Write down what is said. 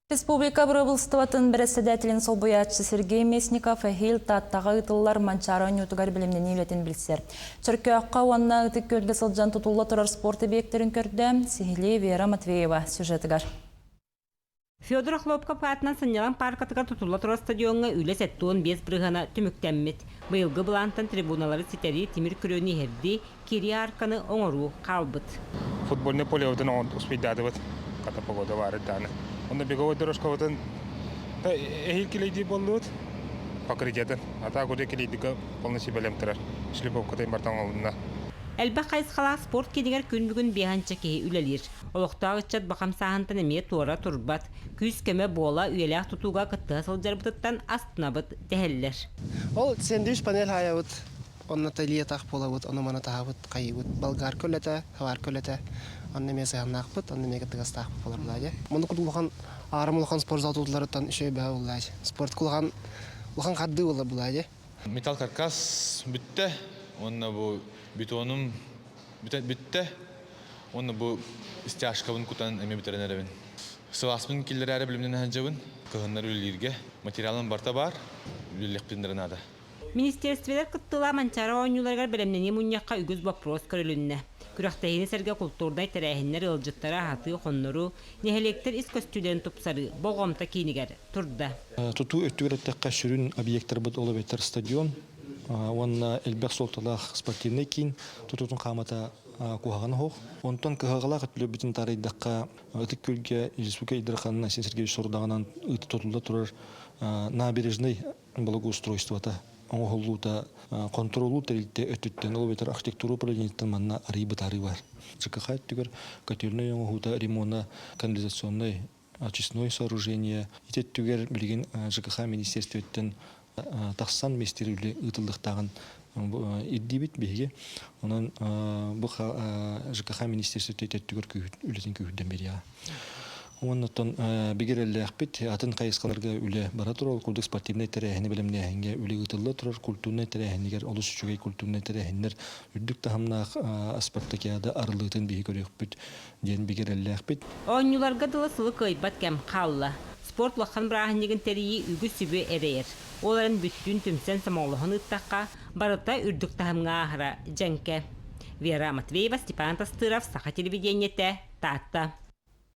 Республика Бырабыылыстыбатын бэрэссэдээтэлин солбуйааччы Сергей Местников эһиил Тааттаҕа ыытыллар Манчаары оонньуутугар билимнэнии үлэтин билсэр. Чөркөөххө уонна Ытык Күөлгэ сылдьан тутулла турар спорт объектарын көрдө, сиһилии Вера Матвеева сюжетыгар. Федор Охлопков аатынан Сынньалаҥ пааркатыгар тутулла турар стадиоҥҥа үлэ сэттэ уон биэс бырыһана түмүктэммит. Быйылгы былаантан трибуналары ситэрии тимир күрүөнү иһэрдии, кириаарканы оҥоруу хаалбыт. Футбольнай полевытын успейдатыбыт, хата погода баара дааны. Онно беговой дорожкабытын эһиил килэйдии буоллубут покрытиятын. А так уже килэйдигэ полный сибэлэм турар. Шлеповкатын бартан оҕынна. Элбэх хайысхалаах спорт киинигэр күн бүгүн биэхэнчэ киһи үлэлиир. Олохтоох ыччат бахам сааһынтан эмиэ туора турбат. Күүс-көмө буола, үйэлээх тутууга кыттыһа сылдьарбытыттан астынабыт, дэһэллэр. Ол сэндвич-панель аайабыт Онно тэлиэ-атах буолабыт, ону-маны таһабыт, хайыыбыт. Болгарка үлэтэ, сварка үлэтэ. Онно эмиэ сыһыаннаахпыт, онно эмиэ кырдыгастаахпыт буолабыла дьэ. Муну курдук улахан аарым улахан спорт зал тутулларыттан үчүгэй бэһэ буолла дьэ. Спортка улахан улахан хардыы буолабыла дьэ. Металл каркас бүттэ уонна бу бетонум бүттэ уонна бу стяжкабын кутан эмиэ бүтэрэн эрэбин. Сылааспын киллэрэри билимнэн сылдьабын. Кыһыннары үлэлииргэ материалым барта баар. Үлэлиэхпин наада. Министиэристибэлэр кыттыылаах Манчаары оонньууларыгар бэлэмнэнии мунньахха үгүс боппуруос көрүлүннэ. Күрэхтэһиини сэргэ култуурнай тэрээһиннэр ыалдьыттары аһатыы, хонноруу, нэһилиэктэр ис көстүүлэрин тупсарыы Болҕомто киинигэр турда. Тутуу өттүгэр эттэххэ, сүрүн объектарбыт ол эбэтэр стадион уонна элбэх суолталаах спортивнай киин тутуутун хаамата куһаҕан оһох. Онтон кыһалҕалаах өттүлэрбитин таарыйдахха, Ытык Күөлгэ Республика Ил Дарханынан Айсен Сергеевич сорудаҕынан ыытта тутулла турар набережнай благоустройствота оҥоһуллуута хонтуруоллуур тэрилтэ өттүттэн ол эбэтэр архитектура управлениетыттан манна арыый бытаарыы баар. ЧКХ өттүгэр котельнай оҥоһуута ремона канализационнай очистное сооружение ити өттүгэр билигин ЖКХ министерствоттан тахсан министер үлэ ыытыллыктааҕын ирдиибит биһиги онон бу ЖКХ министерство өттүгэр үлэтин күүһүрдэн биэриэҕэ Оннуттан бигирэллээхпит атын хайысхаларга үлэ бара турар курдук спортивнай тэрээһини бэлэмнээһиҥҥэ үлэ ыытылла турар культурнай тэрээһинигэр олус үчүгэй культурнай тэрээһиннэр үрдүк таһымнаах спартакиада арыллыытын биһи көрүөхпүт диэн бигирэллээхпит. Оонньууларга дылы сылы кыайбат кэм хаалла. Спорт улахан бырааһынньыгын тэрийии үгүс сүбү эрэйэр. Ол эрэн бүттүүн түмсэн сомоҕолоһон ыыттахха, Барыта үрдүк таһымҥа ааһара дьэҥкэ. Вера Матвеева, Степан Тастыров, Саха телевидениетэ, Таатта.